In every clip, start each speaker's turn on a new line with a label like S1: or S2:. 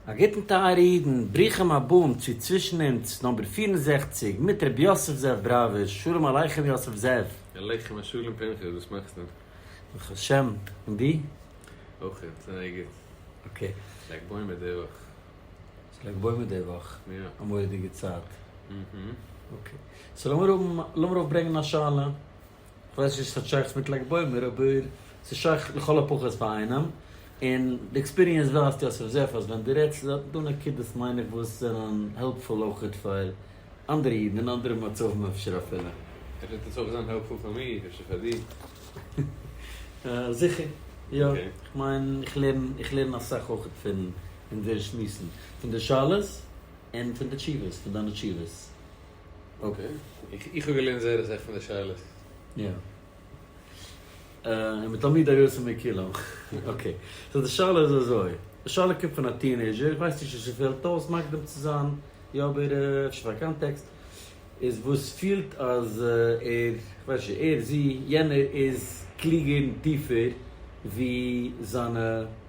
S1: א גוטן טייערע אידן, ברוכים הבאים צו צווישן אונז נאמבער פֿיר און זעכציק מיט רבי יוסף זאב בראווער, שלום עליכם יוסף זאב. עליכם השלום
S2: פנחס, וואס מאכסטו? ברוך השם,
S1: און דו? אויך גוט,
S2: זייער גוט. אקעי.
S1: לג בעומר די
S2: וואך. ס'איז לג
S1: בעומר די וואך? יא. א מורא'דיגע
S2: צייט.
S1: אהה.
S2: אקעי.
S1: סאו לאמיר האבן, לאמיר אויפברענגען א שאלה. כ'ווייס נישט צו ס'האט שייכות מיט לג בעומר, אבער ס'איז שייך לכל הפחות פאר איינעם, און די עקספיריענס ווייזט יוסף זיף אז ווען דו רעדסט איז דא נקודות מיין איך וואס זענען העלפפול אויכעט פאר אנדערע אידן אין אנדערע מצבים אפשר אפילו. אפשר וועט עס אויך זיין העלפפול פאר מיר, אפשר פאר
S2: דיר.
S1: זיכער יא, כ'מיין איך לערן איך לערן אסאך אויכעט פון אונזערע שמועסן, פון די שאלות און פון די תשובות, פון דיינע תשובות.
S2: אקעי. איך האב געלערנט זייער אסאך פון די שאלות.
S1: יא. און מתלמידיו יוצא מכולם. אקעי. סאו די שאלה איז אזוי. די שאלה קומט פון א טינעיזשער, איך ווייס נישט צו ס'פעלט אויס מקדים צו זיין, יא אבער אפשר פאר קאנטעקסט, איז וואס פילט אז ער, כ'ווייס נישט, ער, זי, יענער איז קלוגער און טיפער ווי זיינע.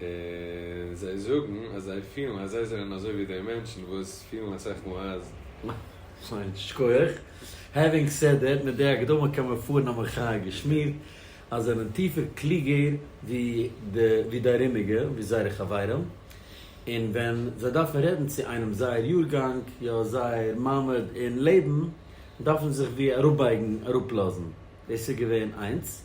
S1: און
S2: זיי זאגן אז זיי פילן אז זיי זענען אזוי ווי די מענטשן וואס פילן אסאך מאל אז. ניין,
S1: שכוח. העווינג סעד דעט, מיט די הקדמה קען מען פארן א מחאה געשמירט אז זיי זענען טיפער קלוגער ווי די ארומיגע, ווי זייערע חברים, און ווען זיי דארפן רעדן צו איינעם זייער יארגאנג, יא זייער מעמד אין לעבן, דארפן זיך ווי אראפבייגן, אראפלאזן. דאס איז געווען איינס.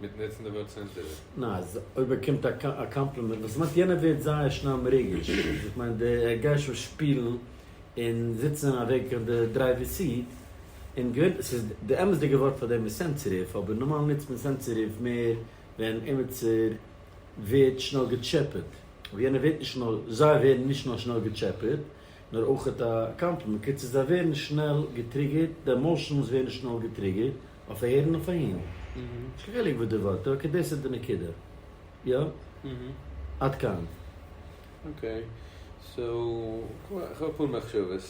S2: מיטן עצם די ווארט צענזור? ניין, אז ער
S1: באקומט א קאמפלימענט, וואס מיינט יענער ווערט זייער שנעל מרוגש, איך מיין די ער גייט שוין שפילן און זיצן אין א וועג קיין די דרייווער סיט, און געווענליך ס'איז די אמת'דיגע ווארט פאר דעם איז סענסעטיוו, אבער נארמאל נוצט מען סענסעטיוו מער ווען עמיצער ווערט שנעל געטשעפעט, אבער יענער ווערט נישט נאר, זיי ווערן נישט נאר שנעל געטשעפעט, נאר אויכעט א קאמפלימענט, קיצור זיי ווערן שנעל געטריגערט, די עמאושענס ווערן שנעל געטריגערט, אויף הערן אויף אהן. נישט קיין חילוק וואס די ווארט איז אקעי דאס איז די נקודה. יא. עד כאן.
S2: אקעי. סאו איך האב אפאר מחשבות.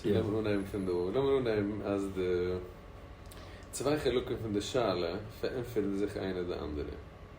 S2: לאמיר אנהייבן פון דא.
S1: לאמיר
S2: אנהייבן אז די צוויי חלקים פון די שאלה פארענטפערן זיך איינע די אנדערע.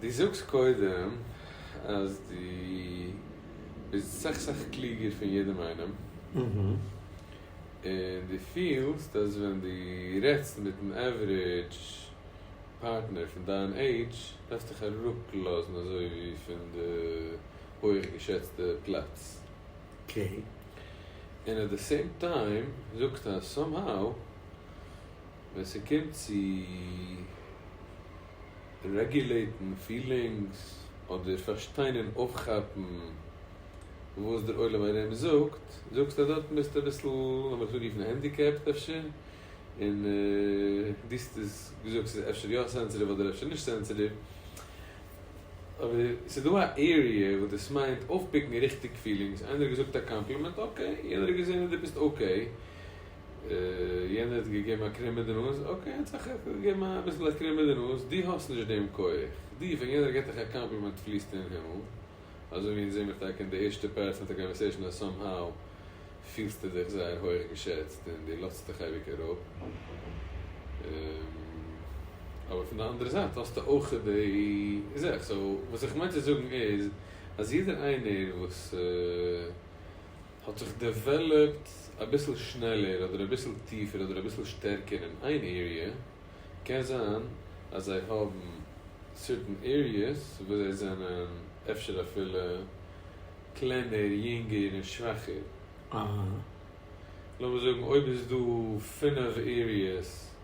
S2: דו זאגסט קודם אז דו ביסט סאך סאך קלוגער פון יעדעם איינעם,
S1: און
S2: דו פילסט אז ווען דו רעדסט מיטן עווערידזש פארטנער פון דיין עידזש דארפסטו דיך אראפלאזן אזוי ווי פון די הויעך געשעצטע פלאץ,
S1: און
S2: עט די סעים טיים זאגסטו אז סאם האו. ווען ס'קומט צו רעגולעיטן פילינגס אדער פארשטיין און אויפכאפן וואס דער עולם ארום זאגט, זאגסטו אז דארטן ביסטו אביסל, לאמיר עס אנרופן הענדיקעפט אפשר, און דו האסט עס געזאגט ס'איז אפשר יא סענסעטיוו אדער אפשר נישט סענסעטיוו, אבער ס'איז דא א עריע וואס דאס מיינט אויפפיקן ריכטיג פילינגס, איינער האט געזאגט א קאמפלימענט, אקעי, יענער האט געזען אז דו ביסט אקעי. יענער האט געגעבן א קרום אין די נאז, אקעי האט זיך עפעס געגעבן אביסל א קרום אין די נאז, דו האסט נישט דעם כח, דו ווען יענער געט דיך א קאמפלימענט פליסטו אין הימל, אזוי ווי אונז זעמיר טאקע אין די ערשטע פאר צענטער קאנווערסעישאן אז סאם האו פילסטו דיך זייער הויך געשעצט און דו לאזט עס דיך אייביג אראפ, אבער פון די אנדערע זייט האסטו אויך די זאך, סאו וואס איך מיין צו זאגן איז אז יעדער איינער וואס. האט זיך דעוועלאפט אביסל שנעלער אדער אביסל טיפער אדער אביסל שטערקער אין איין עריע, קען זיין אז זיי האבן סערטען עריעס וואס זיי זענען אפשר אפילו קלענער, יונגער און שוואכער. לאמיר זאגן אויב איז דא פינף עריעס.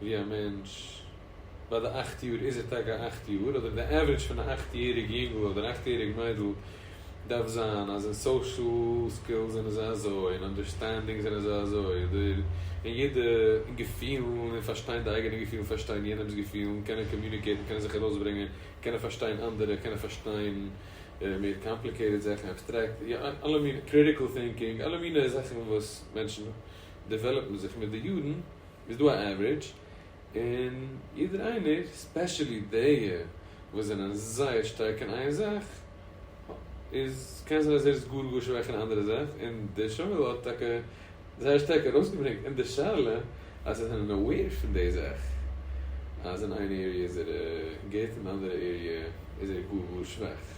S2: ווי א מענטש ביי די אכט יאר איז ער טאקע א אכט יאר אדער די עוורידזש פון א אכט יעריג יונגל אדער אכט יעריג מיידל דארף זיין אז אין סאושעל סקילס זענען זיי אזוי אין אנדערסטענדינג זענען זיי אזוי אדער אין יעדע אין געפילן אין פארשטיין די אייגענע געפילן פארשטיין יענעמס געפילן קענען קאמיוניקעיטן קענען זיך ארויסברענגען קענען פארשטיין אנדערע קענען פארשטיין מער קאמפליקעיטעד זאכן אבסטרעקט אלע מינע קריטיקל טינקינג אלע מינע זאכן וואס מענטשן דעוועלאפן זיך מיט די יארן איז דא א עווערידזש, און יעדער איינער, ספעשעלי די וואס זענען זייער שטארק אין איין זאך, איז קען זיין אז ער איז גאר גאר שוואך אין א אנדערע זאך, און דער שואל האט טאקע זייער שטארק ארויסגעברענגט אין די שאלה אז זיי זענען אוועיר פון די זאך אז אין איין עריע איז ער גוט און אנדערע עריע איז ער גאר גאר שוואך.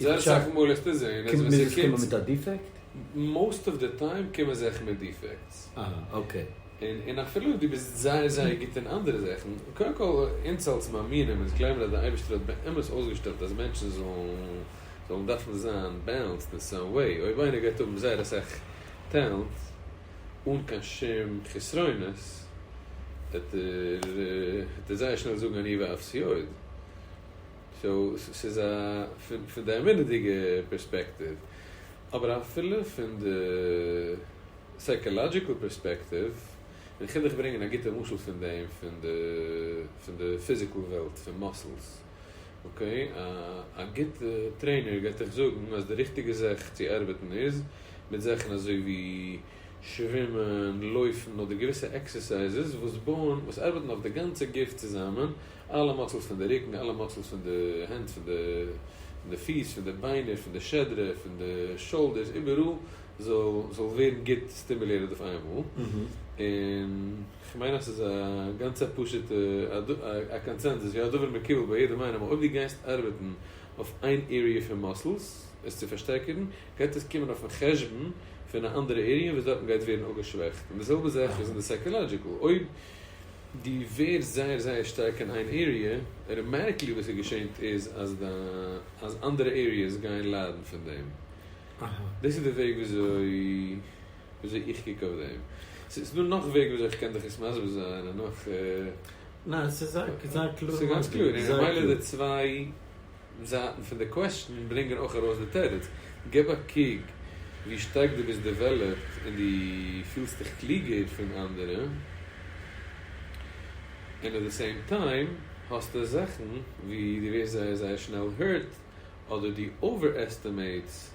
S1: זייער
S2: אסאך מאל
S1: איך טוה זעהן אז ווען ס'קומט מיט א דיפעקט? מאוסט אוו די
S2: טיים קומען זיך מיט דיפעקטס. אהה אקעי.
S1: און אפילו
S2: אויב דו ביסט זייער זייער גוט אין אנדערע זאכן, קודם כל אונז אלס מאמינים אונז גלייבן אז די אייבערשטער האט באמת אויסגעשטעלט אז מענטשן זאלן דארפן זיין בעלענסד אין סאם וועי, אויב איינער גייט האבן זייער אסאך טעלענט אן קיין שום חסרונות, וועט ער זייער שנעל זאגן אני ואפסי עוד. סאו ס'איז א פון די אמונה'דיגע פערספעקטיוו. אבער אפילו פון די סייקאלאדזשיקעל פערספעקטיוו, און כ'וויל דיך ברענגען א גוטע משל פון דעם פון די פון די פיזיקעל וועלט פון מאסלס. אקעי, א גוטע טרעינער גייט דיך זאגן אז די ריכטיגע זאך צו ארבעטן איז מיט זאכן אזוי ווי שווימען, לויפן אדער געוויסע עקסערסייזעס וואס בויען וואס ארבעטן אויף די גאנצע גוף צוזאמען אלע מאסלס פון די רוקן, אלע מאסלס פון די הענט, פון די פון די פיס, פון די ביינער, פון די שדרה, פון די שאלדערס, איבעראל זאל זאל ווערן גוט סטימולעטעד אויף איין מאל. און כ'מיין אז ס'איז א גאנצע א פשוטע א קאנצענזוס ווי הדבר מקובל ביי יעדעם איינעם, אויב דו גייסט ארבעטן אויף איין עריע פון מאסלס עס צו פארשטערקערן, גייט עס קומען אויפן חשבון פון א אנדערע עריע וואס דארטן גייט ווערן אפגעשוועכט. און די זעלבע זאך איז אין די סייקאלאדזשיקל. אויב דו ווערסט זייער זייער שטארק אין איין עריע, ר' מערקלי וואס איז געשענט איז אז די אז אנדערע עריעס גייען ליידן פון דעם, דאס איז די וועג וויאזוי וויאזוי איך קוק אויף דעם, ס'איז דא נאך וועגן וויאזוי איך קען דיך עס מסביר זיין און נאך. ניין
S1: ס'איז זייער קלאר. ס'איז גאנץ קלאר
S2: און ממילא די צוויי. זייטן פון די קוועסטשן ברענגען אויך ארויס די תירוץ. געב א קוק ווי שטארק דו ביסט דעוועלאפט און דו פילסט דיך קלוגער פון אנדערע, און עט די סעים טיים האסטו זאכן ווי דו ווערסט זייער זייער שנעל hurt אדער דו אווער-עסטימעיטס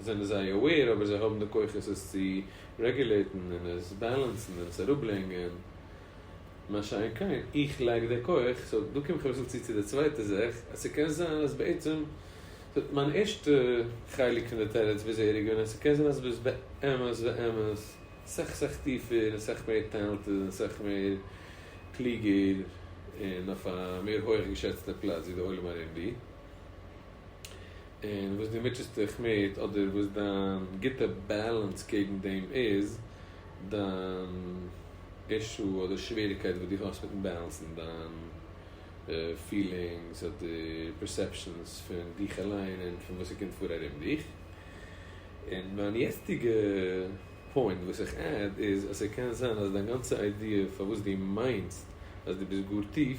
S2: זענען זיי aware אבער זיי האבן די כוחות עס צו רעגולעיטן און עס בעלענסן און עס אראפברענגען, מה שאין כן איך לייק די כח, סאו דא קום איך אביסל צו צו די צווייטע זאך אז ס'קען זיין אז בעצם מיין ערשטע חלק פון די תירוץ ביז אהער איז געווען אז ס'קען זיין אז ביזט באמת באמת סך סך טיפער און סך מער טעלנטעד און סך מער קלוגער און אויף א מער הויעך געשעצטע פלאץ ווי די עולם ארום דיר. און וואס דו מוטשעסט דיך מיט אדער וואס דיין גוטע באלאנס קעגן דעם איז, דיין אישו אדער שוועריקייט וואס דו האסט מיטן באלאנסן דיין פילינגס אדער פערסעפשאנס פון דיך אליין און פון וואס ס'קומט פאר ארום דיך. און מיין יעצטיגע פוינט וואס איך עד איז אז ס'קען זיין אז דיין גאנצע איידיע פארוואס דו מיינסט אז דו ביסט גאר טיף,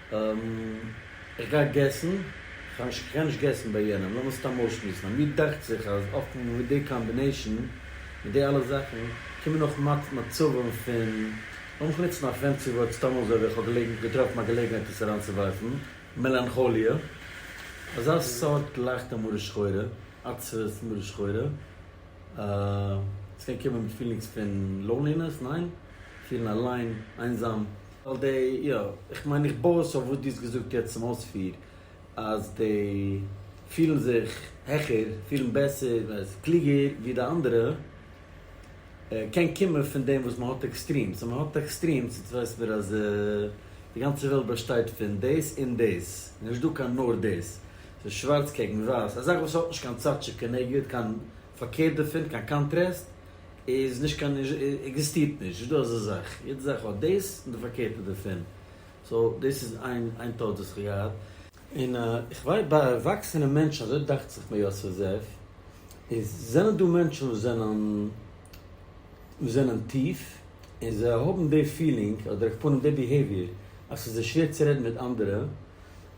S1: איך גיי געסן, כ'קען נישט געסן ביי יענעם, לאמיר סתם אויסשמועסן, אז מיר דאכט זיך אז אפן מיט די קאמבינעישן, מיט די אלע זאכן, קומען אויך מעט מצבים פון, לאמיך נוצן א פענסי ווארט סתם אזוי ווייל כ'האב געלעגנט געטראפן א געלעגנהייט עס אריינצוווארפן, מעלאנכאליע, אזא סארט לייכטע מרה שחורה, עצבות, מרה שחורה, ס'קען קומען מיט פילינגס פון לאונלינעס, ניין? פילן אליין, איינזאם. ווייל די, יא, איך מיין איך בוי עס אויף וואס דו האסט געזאגט יעצט צום אויספיר, אז די פילן זיך העכער, פילן בעסער, קלוגער, ווי די אנדערע, קען קומען פון דעם וואס מען האט עקסטרימס, און מען האט עקסטרימס, יעצט ווייס מיר אז די גאנצע וועלט באשטייט פון דאס און דאס, נישטא קיין נאר דאס, ס'איז שווארץ קעגן ווייס, א זאך וואס האט נישט קיין צד שכנגד, קיין פארקערט דערפון, קיין קאנטרעסט איז נישט קיין עקזיסטירט נישט, נישט דא אזא זאך, יעדע זאך האט דאס און די פארקערטע דערפון, סאו דאס איז איין איין טעות וואס כ'האב געהאט. און איך ווייס ביי ערוואקסענע מענטשן, אזוי דאכט זיך מיר יוסף זאב, איז זענען דא מענטשן וואס זענען וואס זענען טיף און זיי האבן די פילינג אדער אויף פנים די ביהעיוויער אז ס'איז זיי שווער צו רעדן מיט אנדערע,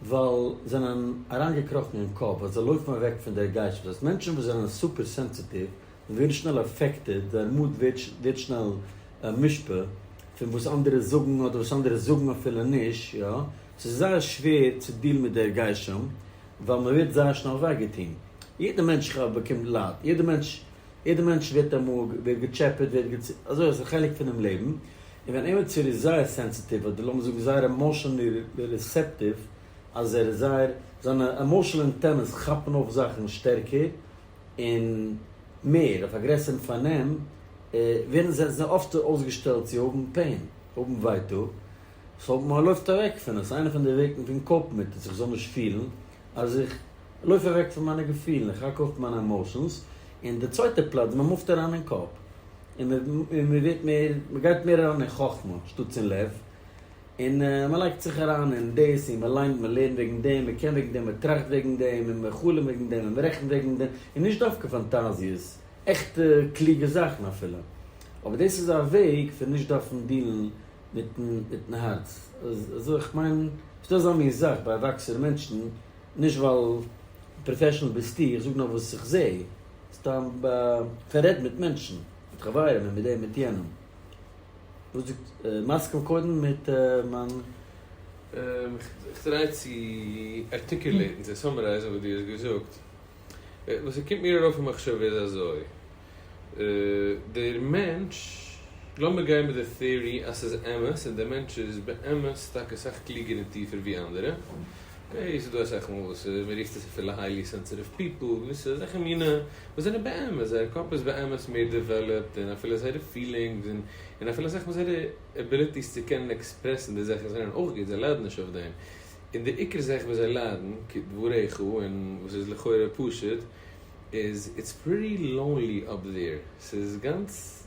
S1: ווייל זענען אריינגעקראכן אין קאפ ווייל זיי לויפן אוועק פון דער גייסט וואס הייסט מענטשן וואס זענען סופער סענסיטיוו און ווערן שנעל עפעקטעד דער מוד ווערט שנעל מושפע פון וואס אנדערע זאגן אדער וואס אנדערע זאגן אפילו נישט יא סאו ס'איז זייער שווער צו דיעלן מיט דער גייסט שם ווייל מ'ווערט זייער שנעל וויי געטון יעדער מענטש ח ו באקומט לייד יעדער מענטש יעדע מענטש ווערט א מאג, ווערט געטשעפעט, ווערט געצ. אזוי אז עס איז א חלק פונעם לעבן, און ווען עימעצער איז זייער סענסיטיוו אדער לאמיר זאגן זייער עמאשענלי ריסעפטיוו, אז ער איז זייער, זיינע עמאשענל אנטענעס כאפן אויף זאכן שטערקער און מער, אויף א גרעסערן פארנעם, ווערן זיי זיי אפטער אויסגעשטעלט צו האבן פעין, האבן ווייטאג, סאו מ'לויפט אוועק פון עס, איינע פון די וועגן פון קאופן מיט עס, איך זאל נישט פילן, אז איך לויף אוועק פון מיינע געפילן, איך האק אויף מיינע עמאושענס, און די צווייטע פלאץ מען מופט אריין אין קאפ, און מען ווערט מער, מען גייט מער אריין אין חכמה שטאטס אין לב, און מען לייגט זיך אריין אין דאס, און מען ליינט, מען לערנט וועגן דעם, מען קען וועגן דעם, מען טראכט וועגן דעם, און מען חלומ'ט וועגן דעם, און מען רעכנט וועגן דעם, און נישט דווקא פאנטאזיעס, עכטע קלוגע זאכן אפילו, אבער דאס איז א וועג פון נישט דארפן דילן מיטן מיטן הארץ אזוי איך מיין ס'דא אזא מין זאך ביי ערוואקסענע מענטשן נישט ווייל פראפעשענעל ביסטו איך זאג נאר וואס איך זע סתם איך רעד מיט מענטשן מיט חברים און מיט דעם מיט יענעם וואס די מסכים קודם מיט מיין. איך
S2: טריי צו ארטיקולעיטן צו סאמערייזן וואס דו האסט געזאגט וואס ס'קומט מיר ארויף אין מחשבה איז אזוי. דער מענטש, לאמיר גיין מיט די theory אז ס'איז אמת און דער מענטש איז באמת טאקע סאך קלוגער און טיפער ווי אנדערע, אקעי, ס'איז דא אסאך מאל וואס מ'רופט עס אפילו היילי סענסעטיוו פיפל, געוויסע אזעלכע מינע וואס זענען באמת, זייער קאפ איז באמת מער דעוועלאפד און אפילו זייערע פילינגס און און אפילו אסאך מאל זייערע עביליטיס צו קענען עקספרעסן די זאכן זענען אויך גוט, זיי ליידן נישט אויף דעם. און די עיקר זאך וואס זיי ליידן, כדבריך, און וואס איז לכאורה פשוט, איז איטס פריטי לאונלי אפ דעיר, ס'איז גאנץ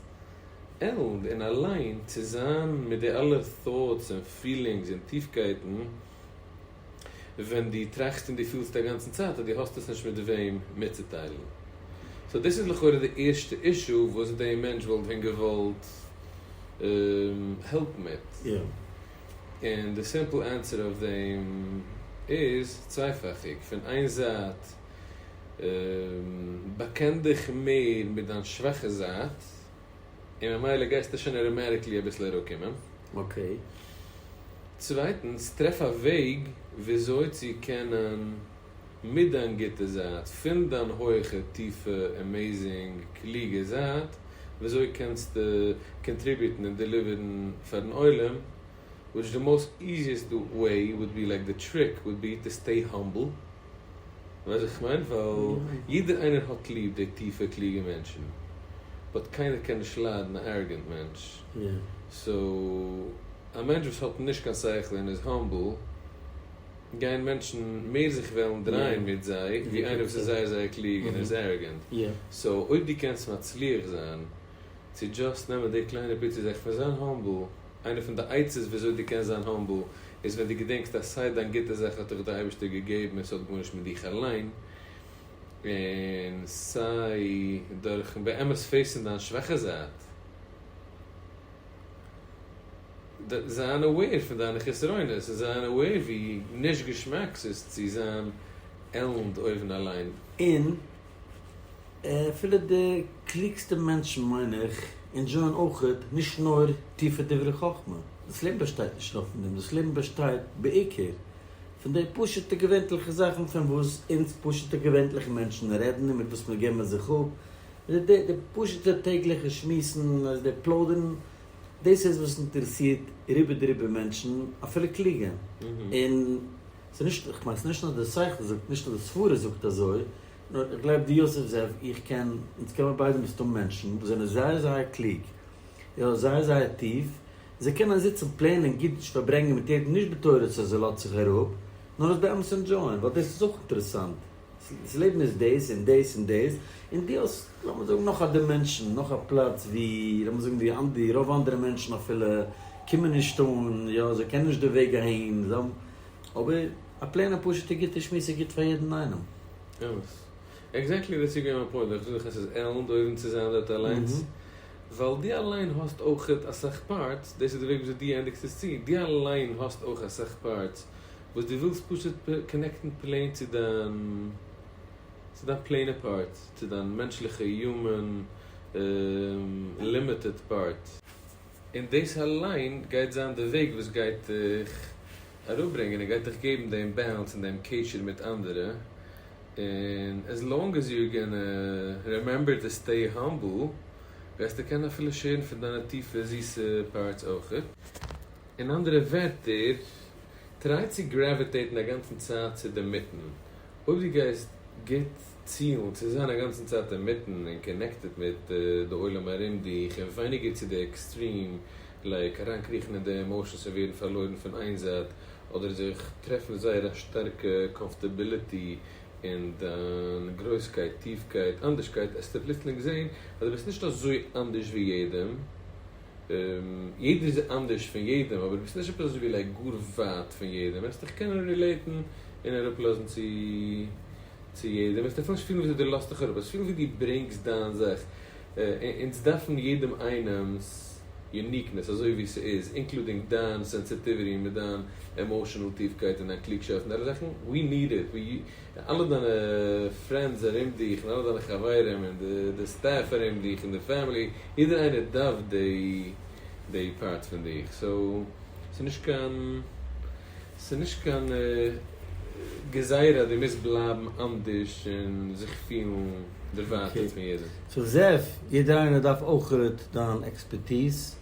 S2: עלנד און אליין צו זיין מיט די אלע thoughts און פילינגס און טיפקייטן ווען דו טראכסט און דו פילסט א גאנצן צייט אז דו האסט עס נישט מיט וועם מיטצוטיילן. סאו דאס איז לכאורה די ערשטע אישו וואס די מענטש וואלט ווען געוואלט העלפ מיט.
S1: און
S2: די סימפל ענטסער אויף דעם איז צווייפאכיג, פון איין זייט באקען דיך מער מיט דיין שוואכע זייט און ממילא גייסטו שוין אוטאמעטיקלי אביסל אראפקומען, צווייטנס טרעף א וועג וויאזוי צו קענען מיט דיין גוטע זייט, פון דיין הויכע, טיפע, עמעיזינג, קלוגע זייט, וויאזוי קענסטו קאנטריביוטן און דעליווערן פארן עולם, וויטש די מאוסט איזיעסט וועי וואלד בי, לייק די טריק וואלד בי, טו סטעי האמבל, ווייסט וואס איך מיין? ווייל יעדער איינער האט ליב די טיפע קלוגע מענטשן, באט קיינער קען נישט ליידן א עראגענט מענטש,
S1: סאו
S2: א מענטש וואס האט נישט קיין שכל און איז האמבל, גייען מענטשן מער זיך וועלן דרייען מיט זיי ווי איינער וואס איז זייער זייער קלוג און ער איז ערעגענט, סאו אויב
S1: דו קענסט
S2: מצליח זיין צו דזשאסט נעמען די קליינע פיצי זאך פון זיין האמבל, איינע פון די עצות וויאזוי דו קענסט זיין האמבל איז ווען דו געדענקסט אז סיי דיין גוטע זאך האט דיך די אייבערשטער געגעבן און ס'האט גארנישט מיט דיך אליין, און סיי דורכ'ן באמת פעיסן דיין שוואכע זייט. זיי אנעוועיר פון דיינע חסרונות און זיי אנעוועיר ווי נישט געשמאק ס'איז צו זיין עלנד אויבן אליין. און אפילו
S1: די קלוגסטע מענטשן מיין איך אינדזשויען אויכעט נישט נאר טיפע דברי חכמה, דאס לעבן באשטייט נישט נאר פון דעם, דאס לעבן באשטייט בעיקר פון די פשוט'ע געווענליכע זאכן פון וואס אונז פשוט'ע געווענליכע מענטשן רעדן און מיט וואס מיר געבן זיך אפ, די פשוט'ע טעגליכע שמועסן און אז די פלוידערן דאס איז וואס אינטערעסירט רובא דרובא מענטשן, אפילו קלוגע. און ס'איז נישט, איך מיין ס'איז נישט נאר די שכל זאגט, נישט נאר די סברה זאגט אזוי, נאר איך גלייב דו יוסף זאב, איך קען, אונז קען מיר ביידע מסתם מענטשן וואס זענען זייער זייער קלוג, יא, זייער זייער טיף, זיי קענען זיצן פלענען גוט פארברענגען מיט יעדן נישט בתורת אז ער לאזט זיך אראפ, נאר עס באמת ענדשויען, ווייל דאס איז אויך אינטערעסאנט. ס'איז לעבן איז דאס און דאס און דאס, און דו האסט לאמיר זאגן נאך א דימענשאן, נאך א פלאץ ווי לאמיר זאגן ווי אנ ד רוב אנדערע מענטשן אפילו קומען נישט אן, יא זיי קענען נישט די וועג אהין, זיי האבן, אבער א פלעינע פשוט'ע גוטע שמועס איז גוט פאר יעדן איינעם. אמת.
S2: עקזעקטלי דאס איז געווען מיין פוינט, איך זאג עס איז עלנד אויבן צו זיין דארט אליינס, ווייל דו אליין האסט אויכעט אסאך פארטס, דאס איז די וועג וויאזוי דו ענדיגסט עס צו, דו אליין האסט אויך אסאך פארטס, וואס דו ווילסט פשוט קאנעקטן פלעין צו דיין צו דיין פלעינע פארט, צו דיין מענטשליכע הומען לימיטעד פארט. און דאס אליין גייט זיין די וועג וואס גייט דיך אראפברענגען און גייט דיך געבן דעם באלאנס און דעם קשר מיט אנדערע, און עז לאנג עז יור גאנא רעמעמבער טו סטעי האמבל גייסטו קענען אפילו שעירן פון דיינע טיפע זיסע פארטס אויך. אין אנדערע ווערטער, טריי צו גרעוויטעיטן אגאנצן צייט צו די מיטן, אויב דו גייסט גוט צילן צו זיין אגאנצן צייט אינמיטן און קאנעקטעד מיט די עולם ארום דיך און ווייניגער צו די עקסטרים לייק אריינקריכן אין די עמאושענס און ווערן פארלוירן פון איין זייט אדער זיך טרעפן זייער א שטארקע קאמפארטעביליטי אין דיין גרויסקייט טיפקייט אנדערשקייט עסטו פלוצלינג זען אז דו ביסט נישט אזוי אנדערש ווי יעדעם. יעדער איז אנדערש פון יעדעם אבער ביסט נישט עפעס אזויווי לייק גאר ווייט פון יעדעם וועסט דיך קענען רילעיטן און אראפ לאזן צו צו יעדעם וועסט אפילו נישט פילן וויאזוי דו לאזט דיך אראפ וועסט פילן ווי דו ברענגסט דיין זאך אונז דארפן יעדעם איינעם'ס יוניקנעס אזוי ווי ס'איז אינקלודינג דיין סענסיטיוויטי מיט דיין עמאושענעל טיפקייט און דיין קלוגשאפט און אלע זאכן ווי ניד איט. די אלע דיינע פרענדס ארום דיך און אלע דיינע חברים און די די סטעף ארום דיך און די פעמילי יעדער איינער דארף דעי דעי פארט פון דיך סאו ס'איז נישט קיין ס'איז נישט קיין גזירה אז דו מוזט בלייבן אנדערש און זיך פילן דערווייטערט פון יעדעם. אקעי. סאו זאב,
S1: יעדער איינער דארף אויך דיין עקספערטיז.